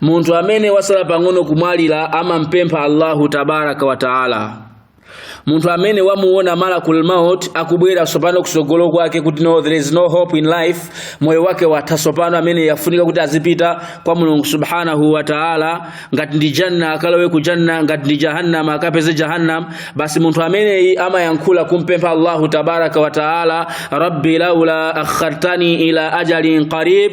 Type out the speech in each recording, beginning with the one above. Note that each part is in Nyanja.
munthu amene wasala pang'ono kumwalira amampempha allahu tabaraka wa taala munthu amene wamuona malakul maut akubwera tsopano kusogolo kwake kuti no there is no hope in life moyo wake watha tsopano amene wafunika kuti azipita kwa mulungu subhanahu wa taala ngati ndi janna akalowe ku janna ngati ndi jahannam akapeze jahannam basi munthu ameneyi amayankhula kumpempha allahu tabaraka wa taala rabbi laula akhartani ila ajalin qarib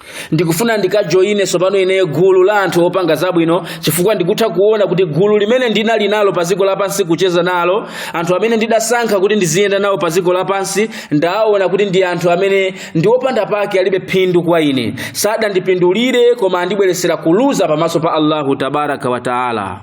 ndikufuna ndikajoyine tsopano ineyo gulu la anthu opanga zabwino chifukwa ndikutha kuona kuti gulu limene ndinali nalo pa dziko lapansi kucheza nalo anthu amene ndidasankha kuti ndiziyenda nawo pa dziko lapansi ndaona kuti ndi anthu amene ndi opanda pake alibe phindu kwa ine sadandipindulire koma andibweretsera kuluza pamaso pa allahu tabaraka wa taala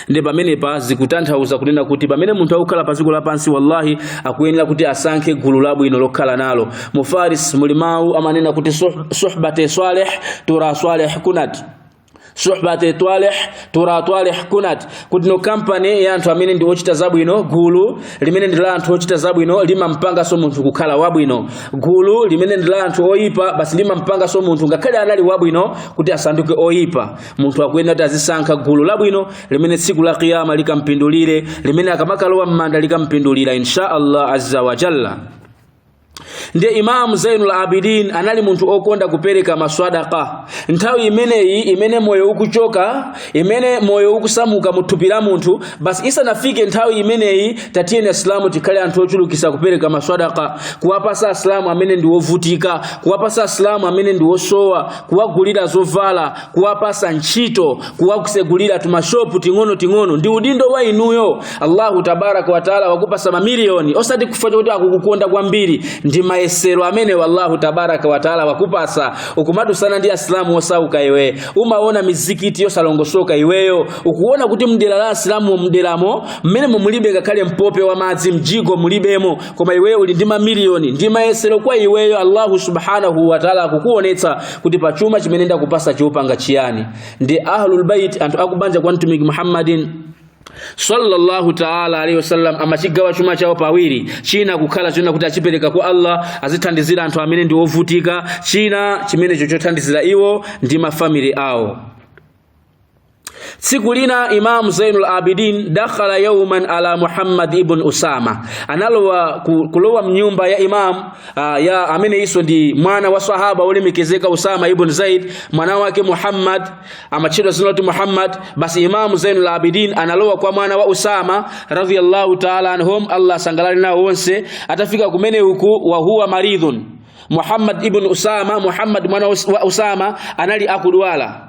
ndiye pamenepa zikutanthauza kunena kuti pamene munthu akukhala pa dziko lapansi wallahi akuyenera kuti asankhe gulu labwino lokhala nalo mu faris muli mawu amanena kuti suh- suhbate swaleh tura swaleh kunat suhbate twaleh tura twaleh kunat kuti no kampani ya anthu amene ndi ochita zabwino gulu limene ndi la anthu ochita zabwino limampanganso munthu kukhala wabwino gulu limene ndi la anthu oyipa basi limampanganso munthu ngakhale anali wabwino kuti asanduke oyipa munthu akuyenera kuti azisankha gulu labwino limene tsiku la kiyama likampindulire limene akamakalowa m'manda likampindulira insha allah azza wa jalla ndiye imamu zainul abidin anali munthu okonda kupereka maswadaka nthawi imeneyi imene moyo ukuchoka imene moyo ukusamuka mu thupi la munthu basi isanafike nthawi imeneyi tatiyeni asilamu tikhale anthu ochulukisa kupereka maswadaka kuwapasa asilamu amene ndi wovutika kuwapasa asilamu amene ndi wosowa kuwagulira zovala kuwapasa ntchito kuwatsegulira tumashopu ting'ono ting'ono ndi udindo wa inuyo allahu tabaraka wataala wakupasa mamiliyoni osati chifukwa choti akukukonda kwambiri ndi mayesero amene allahu tabaraka wataala wakupasa ukumadutsana ndi asilamu osauka iwe umaona mizikiti yosalongosoka iweyo ukuona kuti mdera la asilamu mderamo mmene mulibe ngakhale mpope wa madzi mjigo mulibemo koma iweyo uli ndi mamiliyoni ndi mayesero kwa iweyo allahu subhanahu wataala akukuonetsa kuti pa chuma chimene ndakupasa ukupanga chiyani ndi ahlulbait anthu akubanja kwa mtumiki muhammadin sallallahu taala alaihi wasallam amachigawa chuma chawo pawiri china kukhala chonena kuti achipereka kwa allah azithandizire anthu amene ndi ovutika china chimenecho chothandizira iwo ndi mafamili awo Siku lina Imam Zainul Abidin dakhala yawman ala Muhammad ibn Usama, analowa kulowa mnyumba ya Imam ah, ya amene iso ndi mwana wa sahaba olemekezeka Usama ibn Zaid, mwana wake Muhammad amachedwa zina loti Muhammad. Basi Imam Zainul Abidin analowa kwa mwana wa Usama radhiyallahu ta'ala anhum, Allah sangalale nao wonse. Atafika kumene huku wa huwa maridhun Muhammad ibn Usama, Muhammad mwana wa Usama anali akudwala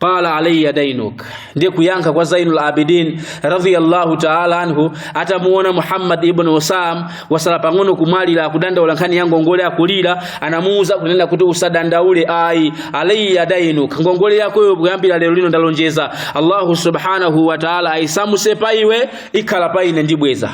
qala alayya dainuk ndiye kuyankha kwa zainul abidin radiyallahu taala anhu atamuona muhammad ibn usama wasala pang'ono kumwalira akudandaula nkhani ya ngongole akulira anamuuza kunena kuti usadandaule ayi alayya dainuk ngongole yakoyo kuyambira lero lino ndalonjeza allahu subhanahu wa taala aisamuse pa iwe ikhala pa ine ndibweza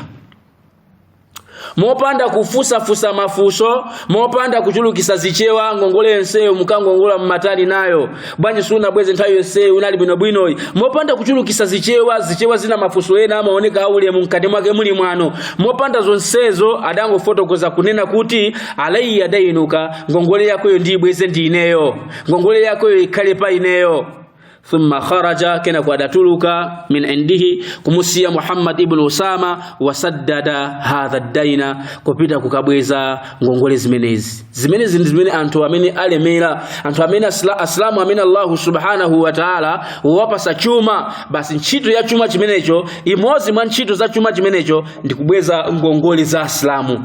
mopanda kufusafusa mafuso mopanda kuchulukisa zichewa ngongole yonseyo mukangongola mmatani nayo bwanji sunabweze nthawi yonseyo unali bwinobwinoyi mopanda kuchulukisa zichewa zichewa zina mafuso ena amaoneka aulemu mkati mwake muli mwano mopanda zonsezo adangofotokoza kunena kuti alayya dainuka ngongole yakoyo ndiyibweze ndi ineyo ngongole yakoyo ikhale pa ineyo thumma kharaja kenako adatuluka min indihi kumusiya Muhammad ibn Usama wasaddada hadha ddaina kupita kukabweza ngongole zimenezi zimenezi ndi zimene anthu amene alemera anthu amene asla, aslamu amene Allah subhanahu wa ta'ala wawapasa chuma basi ntchito ya chuma chimenecho imodzi mwa ntchito za chuma chimenecho ndi kubweza ngongole za aslamu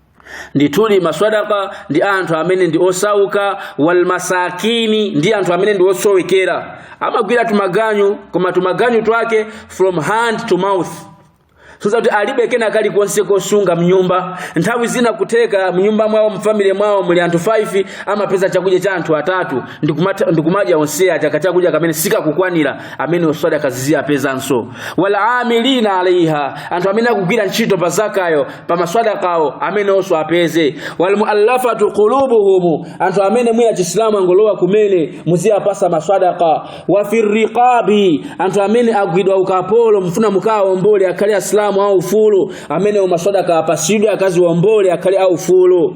ndithudi maswadaka ndi anthu amene ndi osauka walmasakini ndi anthu amene ndi osowekera amagwira tumaganyu koma tumaganyu twake from hand to mouth zoti alibe kena kalikonse kosunga mnyumba nthawi zina kutheka mnyumba mwawo mfamily mwawo muli anthu 5 amapeza chakudya cha anthu atatu ndikumata- ndikumadya onse aja kachakudya kamene sikakukwanira amene swadaka zizi apezanso wal amilina alaiha anthu amene akugwira ntchito pa zakayo pa maswadakawo amenewonso apeze walmuallafatu qulubuhum anthu amene mwina chisilamu angolowa kumene muziyapasa maswadaka wa firriqabi anthu amene agwidwa ukapolo mfuna mukawawombole akhale asilamu aufulu amenewo maswadaka apasidwe akaziwombole akhale aufulu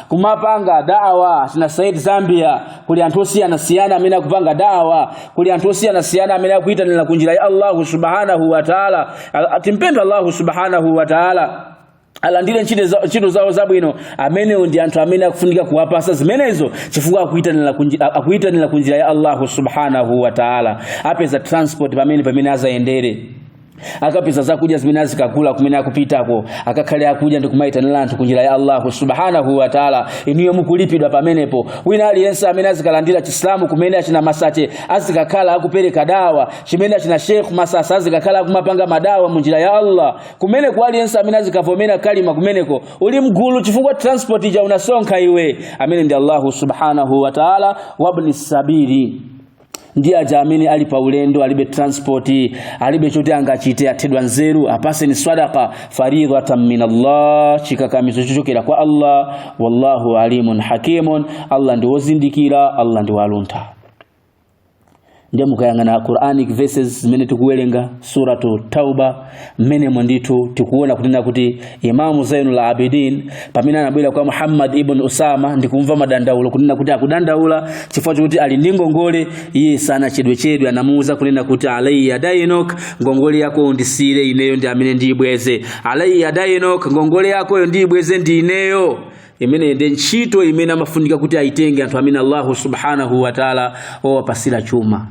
kumapanga dawa China Said zambia kuli anthu osiyanasiyana amene akupanga dawa kuli anthu osiyanasiyana amene akuyitanira ku njira ya allahu subhanahu wa taala A- timpemphe allahu subhanahu wa taala alandire ntchito za- ntchito zawo zabwino amenewo ndi anthu amene akufunika kuwapasa zimenezo chifukwa akuyitanira ku nji- akuyitanira ku njira ya allahu subhanahu wa taala apeze transport pamene pamene azayendere akapeze zakudya zimene azikagula kumene akupitako akakhale akudya ndi kumayitanira anthu kunjira ya allahu subhanahu wataala inuyo mukulipidwa pamenepo wina aliyense amene azikalandira chisilamu kumene achina masache azikakhala akupereka dawa kumene achina shekh masasa azikakhala akumapanga madawa munjira ya allah kumeneko aliyense amene azikavomera kalima kumeneko uli mgulu chifukwa transport ija unasonkha iwe amene ndi allahu subhanahu wataala wabni sabili ndiye aja amene ali pa ulendo alibe transport alibe choti angachite athedwa nzeru apaseni sadaqa faridatan min Allah chikakamizo chochokera kwa Allah wallahu alimun hakimun Allah ndi wozindikira Allah ndi waluntha ndiye mukayang'ana Quranic verses zimene tikuwerenga suratu Tauba mmenemo ndithu tikuona kunena kuti imamu zainul abidin pamene anabwera kwa muhammad ibn usama ndikumva madandaulo kunena kuti akudandaula chifukwa chokuti ali ndi ngongole iye sanachedwechedwe anamuuza kunena kuti alayya dainuk ngongole yako ndisiyire ineyo ndi amene ndiyibweze alayya dainuk ngongole yakoyo ndiyibweze ndi ineyo imene ndi ntchito imene amafunika kuti aitenge anthu amene allahu subhanahu wataala wawapatsira chuma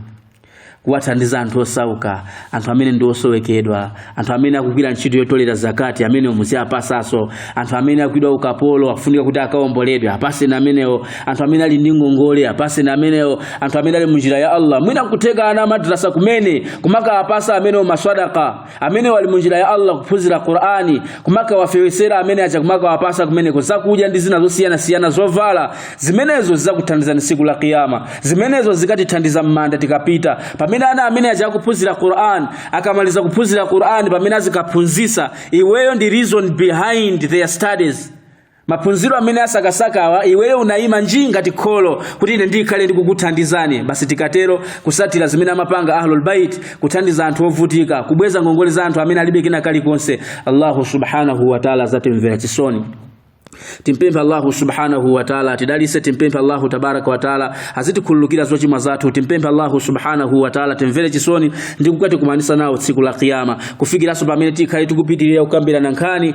kuwathandiza anthu osauka anthu amene ndi osowekedwa anthu amene akugwira ntchito yotolera zakati amenewo muziapasaso anthu amene agwidwa ukapolo akufunika kuti akaomboledwe apaseni amenewo anthu amene ali ndi ngongole apaseni amenewo anthu amene ali munjira ya allah mwina nkutheka ana amadrasa kumene kumakaapasa amenewo masadaka amenewo ali munjira ya Allah kuphunzira Qur'ani kumakawafewesera amene aja kumakawapasa kumeneko zakudya ndi zina zosiyanasiyana zovala zimenezo zizakuthandizani siku la kiyama zimenezo zikatithandiza mmanda tikapita pamene ana amene aja akuphunzira Qur'an akamaliza kuphunzira Qur'an pamene azikaphunzisa iweyo ndi reason behind their studies maphunziro amene asakasakawa iweyo unayima njii ngati kholo kuti ine ndikhale ndikukuthandizani basi tikatero kusatira zimene amapanga ahlul bait kuthandiza anthu ovutika kubweza ngongole za anthu amene alibe kena kalikonse allahu subhanahu wa taala azatimvera chisoni timpemphe allahu subhanahu wa taala atidalise timpemphe allahu tabaraka wa taala azitikhululukira zochimwa zathu timpemphe allahu subhanahu wa taala atimvere chisoni ndi kukatikumanisa nawo tsiku la kiyama kufikiranso pamene tikhale tikupitirira kukambirana nkhani